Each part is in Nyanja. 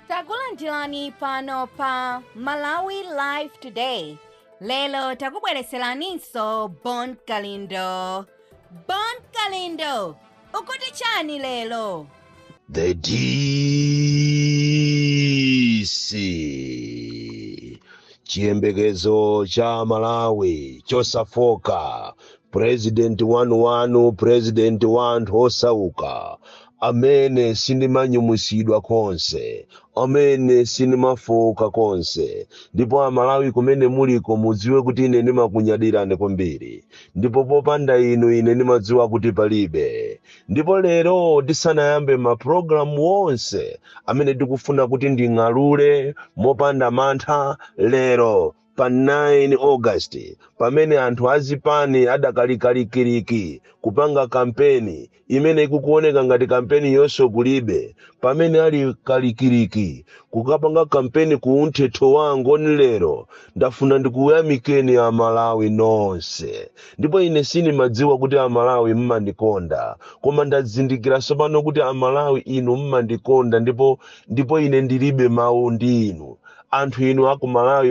takulandirani pano pa malawi live today lero takubwereseraninso bon kalindo bon kalindo ukuti chani lero The DC chiyembekezo cha Malawi chosafoka president wanu president wa anthu osauka amene sindimanyumwitsidwa konse, amene sindimafooka konse, ndipo a Malawi kumene muliko mudziwe kuti ine ndimakunyadirani kwambiri ndipo popanda inu ine ndimadziwa kuti palibe. Ndipo lero tisanayambe ma program wonse amene tikufuna kuti nding'alule mopanda mantha lero pa 9 august pamene anthu azipani adakali kalikiliki kupanga kampeni imene ikuoneka ngati kampeniyonso kulibe pamene ali kalikiliki kukapanga kampeni ku umthetho wa angoni lero ndafuna ndikuyamikeni amalawi nonse ndipo ine sindimadziwa kuti amalawi mmandikonda koma ndazindikira tsopano kuti amalawi inu mmandikonda ndipo ndipo ine ndilibe mawu ndi inu anthu inu aku malawi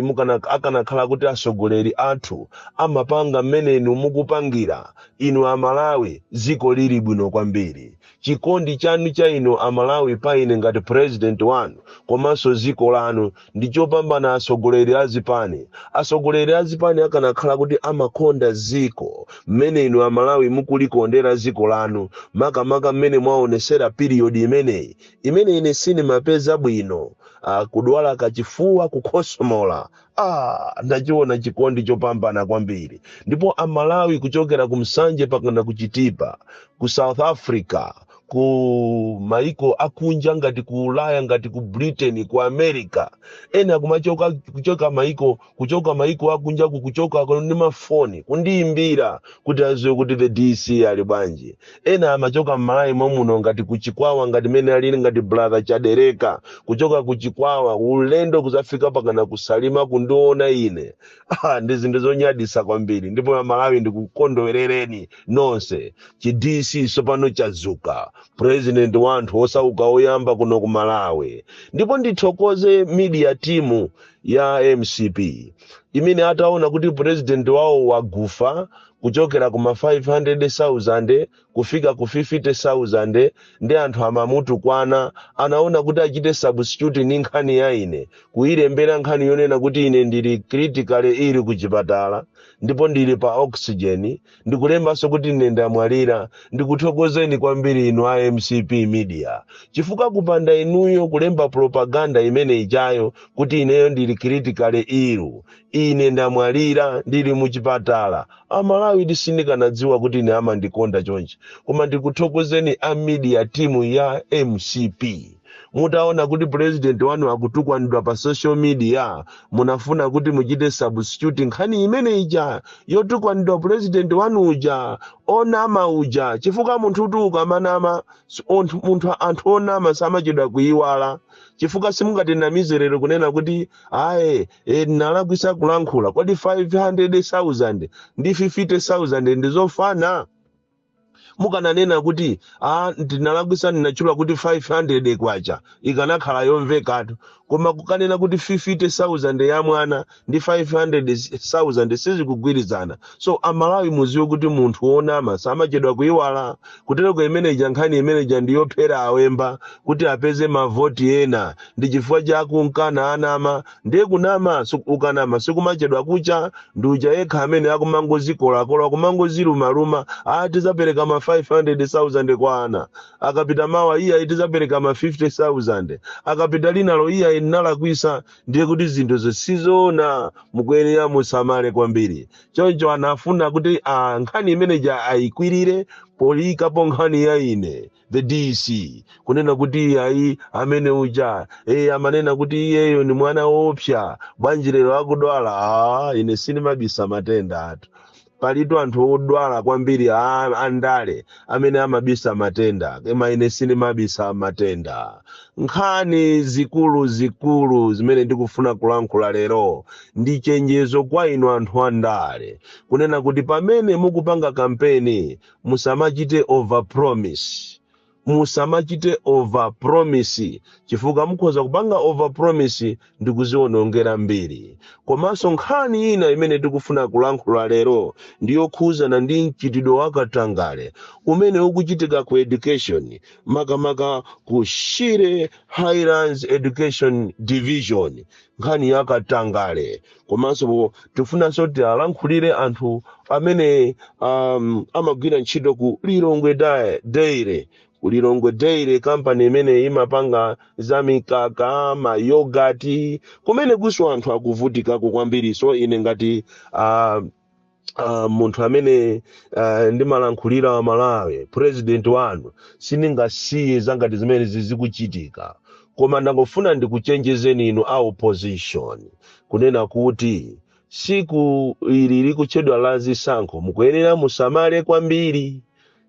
akanakhala kuti atsogoleri athu amapanga mmene inu mukupangira inu amalawi dziko lili bwino kwambiri chikondi chanu cha inu amalawi pa ine ngati president wanu komanso dziko lanu ndi chopambana atsogoleri a zipani atsogoleri a zipani akanakhala kuti amakonda dziko mmene inu amalawi mukulikondera dziko lanu makamaka mmene mwaonesera period imeneyi imene ine sindimapeza bwino, a, kudwala kachifuwa, kukhosomola. A, ndachiwona chikondi chopambana kwambiri. Ndipo a Malawi kuchokera ku Nsanje pakana ku Chitipa, ku South Africa, ku maiko akunja ngati ku Ulaya, ngati ku Britain, ku America, ena kumachoka kuchoka maiko kuchoka maiko akunjaku kuchoka ndi mafoni kundiyimbira kuti aziwe kuti the dc ali bwanji ena amachoka mmalawi momuno ngati kuchikwawa ngati mene alili ngati brother chadereka kuchoka kuchikwawa ulendo kuzafika pakana kusalima kundiona ine ah, ndi zinthu zonyadisa kwambiri ndipo amalawi ndikukondwerereni nonse chi dc sopano chazuka president wa anthu osauka oyamba kuno ku malawi ndipo ndithokoze media team ya mcp imene ataona kuti purezidenti wawo wakufa kuchokera kuma 500,000 kufika ku 50,000 ndi anthu amamutukwana anaona kuti achite substitute ni nkhani ya ine kuyilembera nkhani yonena kuti ine ndili critically ill ku chipatala ndipo ndili pa oxygen ndikulembanso kuti ine ndamwalira ndikuthokozeni kwambiri inu a mcp media chifukwa kupanda inuyo kulemba propaganda imene ijayo kuti ineyo ndili critically ill ine ndamwalira ndili muchipatala amalawi sindikanadziwa kuti ine amandikonda chonchi koma ndikuthokozeni a media timu ya mcp mutaona kuti president wanu akutukwanidwa pa social media munafuna kuti muchite substitute nkhani imene ija yotukwanidwa president wanu uja onama uja chifukwa munthu uti ukamanama si- onthu- munthu anthu onama samachedwa kuyiwala chifukwa simungatinamize lero kunena kuti ayi e, ndinalakwisa kulankhula kodi 500000 ndi 50000 ndizofana mukananena kuti a ndinalakwisa ndinatchula kuti 500 kwacha ikanakhala yomvekatu koma kukanena kuti 50000 ya mwana ndi 500000 sizikugwirizana so amalawi muziwe kuti munthu wonama samachedwa kuiwala kutereko imeneja nkhani imeneja ndi yophera awemba kuti apeze mavoti ena ndi chifukwa chake mkana anama Ndiye kunama su- ukanama sikumachedwa kucha ndi uja yekha amene akumangozikolakola kumangozilumaluma ati zapereka ma 500,000 kwa ana akapita mawa iyayi tizapereka ma 50,000 akapita linalo iyayi nalakwisa ndiye kuti zinthu zisizoona mukuyenera musamale kwambiri choncho anafuna kuti ah, nkhani imeneja ayikwirire poyikapo nkhani ya ine the dc kunena kuti iyayi amene uja e amanena kuti iyeyo ni mwana woopsa bwanji lero akudwala ah, ine sindimabisa matendatu palitu anthu odwala kwambiri a- andale amene amabisa matenda koma ine sindimabisa matenda nkhani zikulu zikulu zimene ndikufuna kulankhula lero ndi chenjezo kwa inu anthu andale kunena kuti pamene mukupanga kampeni musamachite over promise musamachite over promise chifukwa mukhoza kupanga over promise ndi kuziwonongera mbiri komanso nkhani ina imene tikufuna kulankhula lero ndi yokhuzana ndi mchitidwe wa katangale umene ukuchitika ku education makamaka ku shire highlands education division nkhani ya katangale komanso tifunanso kuti tiwalankhulire anthu amene um, amagwira ntchito ku lilongwe Dai- dairy ku lilongwe dairy kampani imene imapanga za mikaka mayogati kumenekunso anthu akuvutikako kwambiri so ine ngati uh, uh, munthu amene uh, ndimalankhulira wa malawi president wanu sindingasiye za ngati zimene zikuchitika koma ndangofuna ndikuchenjezeni inu a opposition kunena kuti tsiku ili likutchedwa la zisankho mukuyenera musamale kwambiri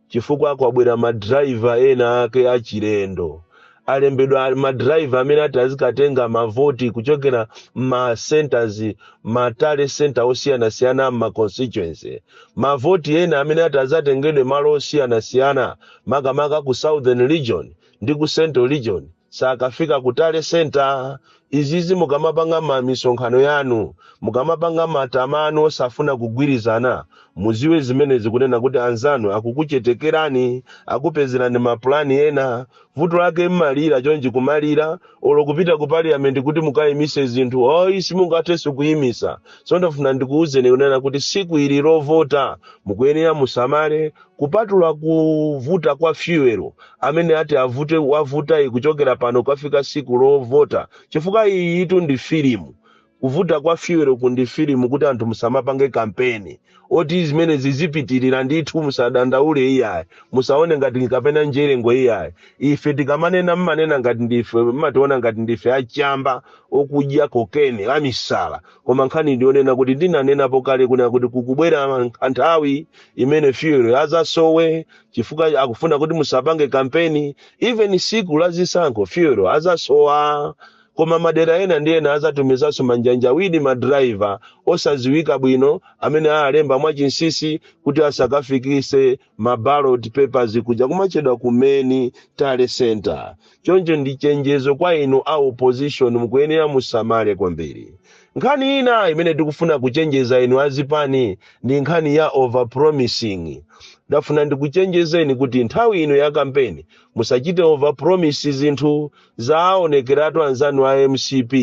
chifukwa kwabwera ma driver ena ake achilendo alembedwa ma driver amene ati azikatenga mavoti kuchokera ma centers ma tally center osiyanasiyana ma constituency mavoti ena amene ati azatengedwe malo osiyanasiyana makamaka ku southern region ndi ku central region sakafika ku tally center izizi mukamapanga ma misonkhano yanu mukamapanga matama anu osafuna kugwirizana muziwe zimenezi kunena kuti anzanu akukuchenjererani akupezerani mapulani ena vuto lake mmalira chonchi kumalira olo kupita ku parliament kuti mukayimise zinthu oyi simungathenso kuyimisa so ndafuna ndikuwuzeni kunena kuti tsiku ili lovota mukuyenera musamale Kupatula kuvuta kwa fuel amene ati avute wavutayi kuchokera pano kukafika tsiku lovota chifukwa iyiyitu ndi filimu. Kuvuta kwa fuelku ndi filimu kuti anthu musamapange kampeni oti zimenezi zipitirira ndithu musadandaule iyayi. Musaone ngati kapena mjedo iyayi. Ife tikamanena mmanena ngati ndife mmationa ngati ndife achamba okudya cocaine amisala koma nkhani ndi yonena kuti ndinanenapo kale kunena kuti kukubwera nthawi imene fuel azasowe chifukwa akufuna kuti musapange kampeni even tsiku la zisankho fuel azasowa koma madera ena ndi ena azatumizanso manjanjawidi madrayiva osaziwika bwino amene alemba mwachinsisi kuti asakafikise maballot papers kuja kumatchedwa ku main tally center Choncho ndi chenjezo kwa inu a opposition mukuyenera musamale kwambiri. Nkhani ina imene tikufuna kuchenjeza inu a zipani ndi nkhani ya over promising. Ndafuna ndikuchenjezeni kuti nthawi ino ya kampeni musachite over promise zinthu. Zaaonekeratu anzanu a mcp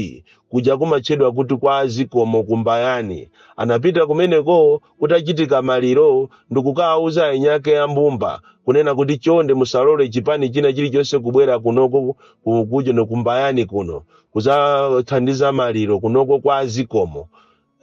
kuja kumatchedwa kuti kwa azikomo ku Mbayani anapita kumeneko kutachitika maliro ndikukawauza eni ake a mbumba kunena kuti chonde musalole chipani china chilichonse kubwera kunoko ku- kujono kumbayani kuno kuzathandiza maliro kunoko kwa azikomo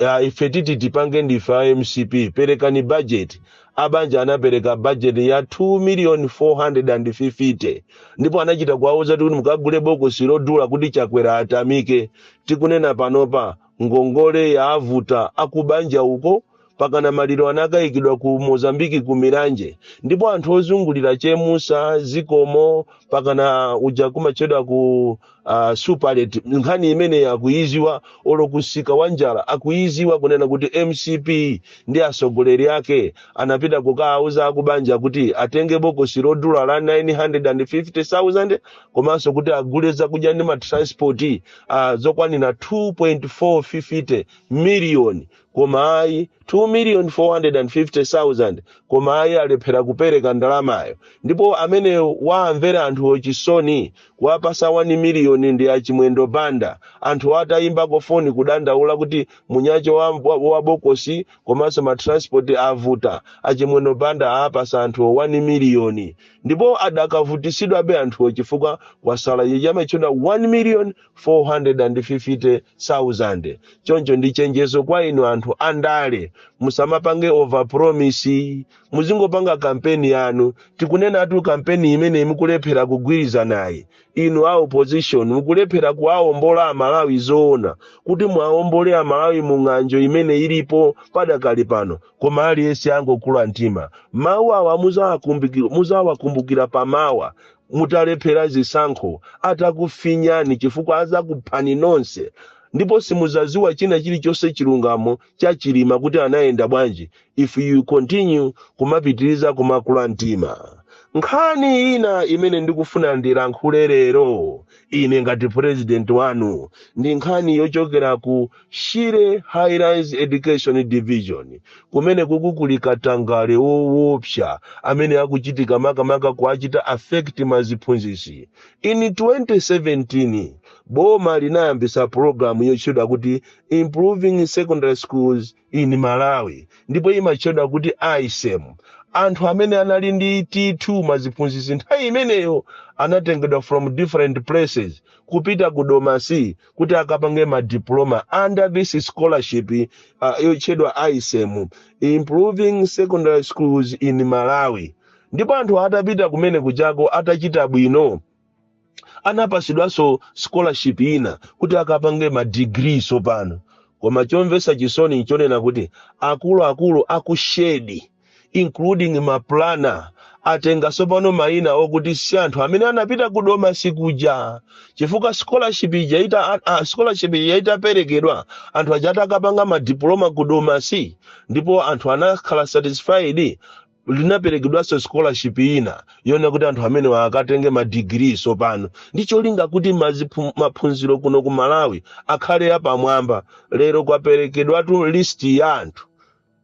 uh, ife titi tipange ndife a mcp perekani bajeti abanja anapereka bajeti ya 2 million 450 ndipo anachita kuwauza kuti mukagule bokosi lodula kuti chakwera atamike tikunena panopa Ngongole yavuta akubanja uko, pakana maliro anakaikidwa ku Mozambique ku Milanje ndipo anthu ozungulira Chemusa zikomo pakana uja kumatchedwa ku uh, superlet nkhani imeneyi akuiziwa olo ku msika wa njala akuiziwa kunena kuti mcp ndi atsogoleri ake anapita kukaauza akubanja kuti atenge bokosi lodula la 950000 komanso kuti agule zakudya ndi matranspoti uh, zokwanira 2.450 miliyoni koma ayi 2 million 450,000 koma ayi alephera kupereka ndalamayo ndipo amene waamvera anthu chisoni kuwapasa 1 miliyoni ndi achimwendo banda anthu atayimbako foni kudandaula kuti munyacho wa, wa, wa bokosi komanso matransport avuta achimwendo banda apasa anthuwo 1 miliyoni ndipo adakavutitsidwabe anthuwo chifukwa kwasala ichi amatchedwa 1,450,000 choncho ndi chenjezo kwa inu anthu andale musamapange overpromise muzingopanga kampeni yanu tikunenatu kampeni imeneyi mukulephera kugwirizanayi inu a opposition mukulephera kuwaombola amalawi zoona kuti muwaombole amalawi mu ng'anjo imene ilipo padakali pano Koma aliyense angokula mtima. Mawu awa muzawakumbukira, muzawakumbukira pamawa mutalephera zisankho, atakufinyani chifukwa azakuphani nonse ndipo simuzaziwa china chilichonse chilungamo cha Chilima kuti anayenda bwanji if you continue kumapitiriza kumakula mtima. Nkhani ina imene ndikufuna ndilankhule lero ine ngati president wanu ndi nkhani yochokera ku shire highlands education division kumene kuli katangale wowopsa amene akuchitika makamaka kuwachita affect maziphunzisi in 2017 boma linayambisa pulogalamu yotchedwa kuti improving secondary schools in Malawi ndipo imatchedwa kuti ISEM. Anthu amene anali ndi T2 maziphunzitsi nthawi imeneyo anatengedwa from different places kupita ku Domasi kuti akapange ma diploma under this scholarship uh, yotchedwa ISEM, Improving Secondary Schools in Malawi. Ndipo anthu atapita kumene kuchako atachita bwino anapatsidwanso scholarship ina kuti akapange ma degree tsopano koma chomvetsa chisoni nchonena kuti akuluakulu aku SHED including maplana atenga tsopano mayina okuti si anthu amene anapita ku Domasi kuja chifukwa scholarship ija ita a- a- scholarship ija itaperekedwa anthu aja atakapanga madiploma ku Domasi ndipo anthu anakhala satisfied linaperekedwanso scholarship ina yona kuti anthu amenewa akatenge madigiri tsopano ndi cholinga kuti maziphu- maphunziro kuno ku malawi akhale apamwamba lero kwaperekedwatu list ya anthu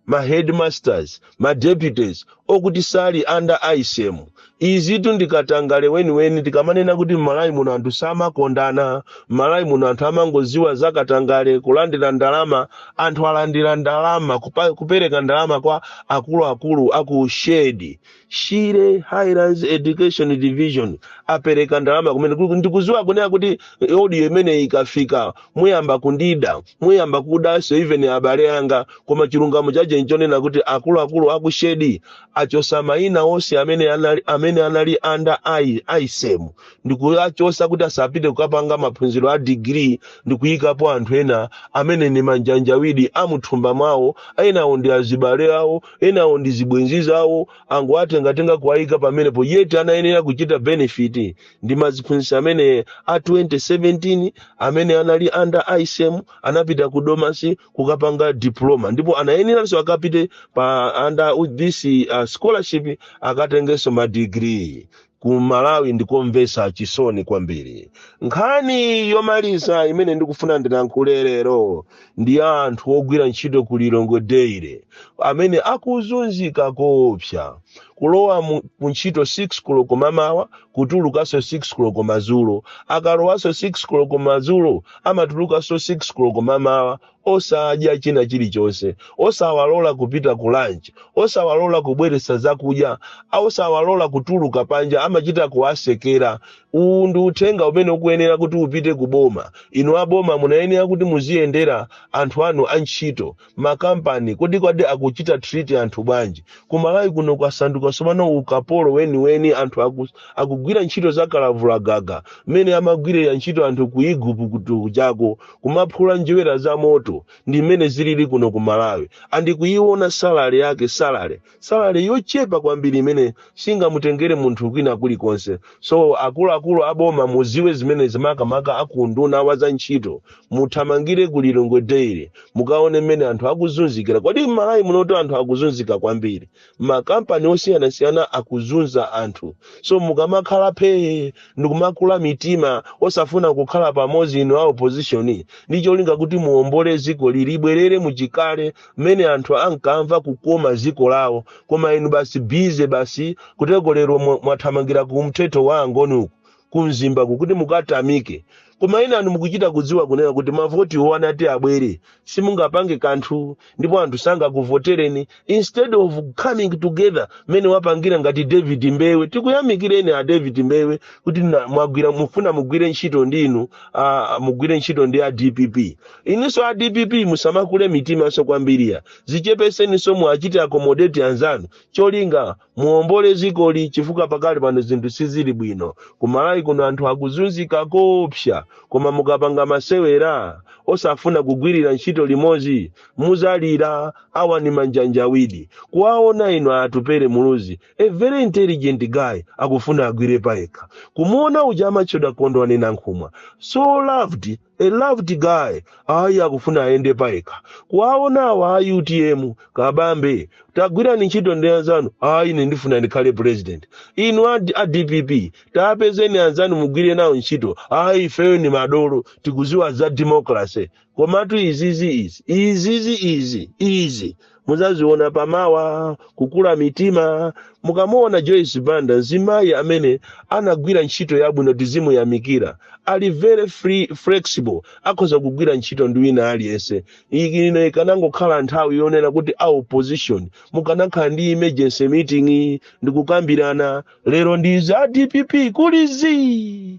ma headmasters ma deputies okuti sali under ISEM Izitu ndi katangale weniweni tikamanena kuti m'Malawi muno anthu samakondana, m'Malawi muno anthu amangoziwa za katangale, kulandira ndalama, anthu alandira ndalama kupe- kupereka ndalama kwa akuluakulu aku shed, Shire Highlands Education Division apereka ndalama kumene Ku- ndikuziwa kunena kuti audio imeneyi ikafika muyamba kundida, muyamba kudanso even abale anga, koma chilungamo chake nchonena kuti akuluakulu aku shed achosa maina onse amene anali, amene anali under I- ISEM ndikuachosa kuti asapite kukapanga maphunziro a digiri ndikuyikapo anthu ena amene ni manjanjawidi amuthumba mwawo enawo ndi azibale awo enawo ndi zibwenzi zawo angowatengatenga kuwayika pamenepo yet anayenera kuchita benefit ndi maziphunzitsi amene a 2017 amene anali under ISEM anapita ku domasi kukapanga diploma ndipo anayeneranso akapite pa under u- this uh, scholarship akatengenso madigiri ku malawi ndikomvetsa chisoni kwambiri nkhani yomaliza imene ndikufuna ndilankhule lero ndi ya anthu ogwira ntchito ku lilongwe dairy amene akuzunzika koopsa kulowa mu- ku ntchito 6 koloko mamawa kutulukanso 6 koloko madzulo akalowanso 6 koloko madzulo amatulukanso 6 koloko mamawa osadya china chilichonse osawalola kupita ku lunch osawalola kubweretsa zakudya a- osawalola kutuluka panja amachita kuwasekera uwu ndi uthenga umene ukuyenera kuti upite ku boma inu aboma munayenera kuti muziyendera anthu anu antchito makampani kodi kodi akuchita treat anthu bwanji kumalawi kuno kwasanduka sopano ukapolo weniweni anthu aku, akugwira ntchito za kalavula gaga mmene amagwirira ntchito anthu ku iguputo kuja kumaphula njerwa za moto ndi mmene zilili kuno ku malawi and kuiona salary yake salary salary yochepa kwambiri imene singamutengere munthu kwina kulikonse so akuluakulu a boma muziwe zimenezi makamaka a ku unduna wa za ntchito muthamangire ku lilongwe dairy mukaone mmene anthu akuzunzikira kodi m'malawi munoto anthu akuzunzika kwambiri m'makampani osiyanasiyana akuzunza anthu so mukamakhala phee ndikumakula mitima osafuna kukhala pamodzi inu a opposition ndi cholinga kuti muombole dziko ili libwerere muchikale mmene anthu ankamva kukoma dziko lawo koma inu basi bize basi kuteroko lero mwa- mwathamangira ku umthetho wa angoni uku ku mzimba ku kuti mukatamike koma ena anu mukuchita kudziwa kunena kuti mavotiwo asanati abwere simungapange kanthu ndipo anthu sangakuvotereni instead of coming together mmene wapangira ngati david mbewe tikuyamikireni a david mbewe kuti na- mwagwira mufuna mugwire ntchito ndi inu ah, mugwire ntchito ndi a dpp inuso a dpp musamakule mitimanso kwambiri ayi zichepeseninso muwachite accommodate anzanu cholinga muombole dzikoli chifukwa pakali pano zinthu sizili bwino kumalawi kuno anthu akuzunzika koopsa koma mukapanga masewera osafuna kugwirira ntchito limodzi muzalira awa ndi manjanjawidi kuwaona inu atupere muluzi a very intelligent guy akufuna agwire payekha kumuona uja amatchedwa kondwani nankhumwa so loved A loved guy ayi akufuna ayende payekha kuwaona awa a utm kabambe tagwirani ntchito ndi anzanu ayi ine ndifuna ndikhale president inu a, a dpp tapezeni anzanu mugwire nawo ntchito ayi ifeyo ndi madolo tikuziwa za democracy komatu izizi izi izizi izi izi muzaziona pamawa kukula mitima mukamuona joyce banda mzimayi amene anagwira ntchito yabwino tizimuyamikira ali very free, flexible akhoza kugwira ntchito ndi wina aliyense ino ikanangokhala nthawi yonena kuti a opposition mukanakhala ndi emergency meeting ndikukambirana lero ndinu a dpp kuli zii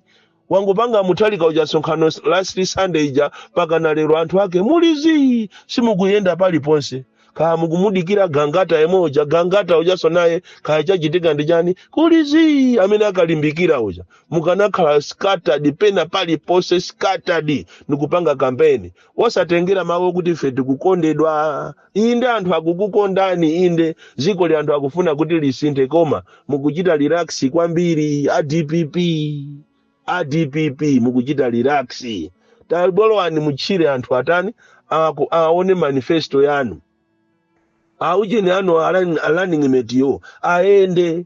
wangopanga mutharika uja msonkhano last sunday ija pakana lero anthu ake muli zii simukuyenda paliponse kaya mukumudikirira gangata yemwe uja gangata ujanso naye kaya chachitika ndi chani kuli zii amene ankalimbikira uja mukanakhala scattered pena paliponse scattered ndikupanga kampeni osatengera mawu okuti ife tikukondedwa inde anthu akukukondani inde dzikoli anthu akufuna kuti lisinthe koma mukuchita relax kwambiri a dpp a dpp mukuchita relax takalowani mutchire anthu atani aku- aone manifesto yanu aujeni anu a running mateyo ayende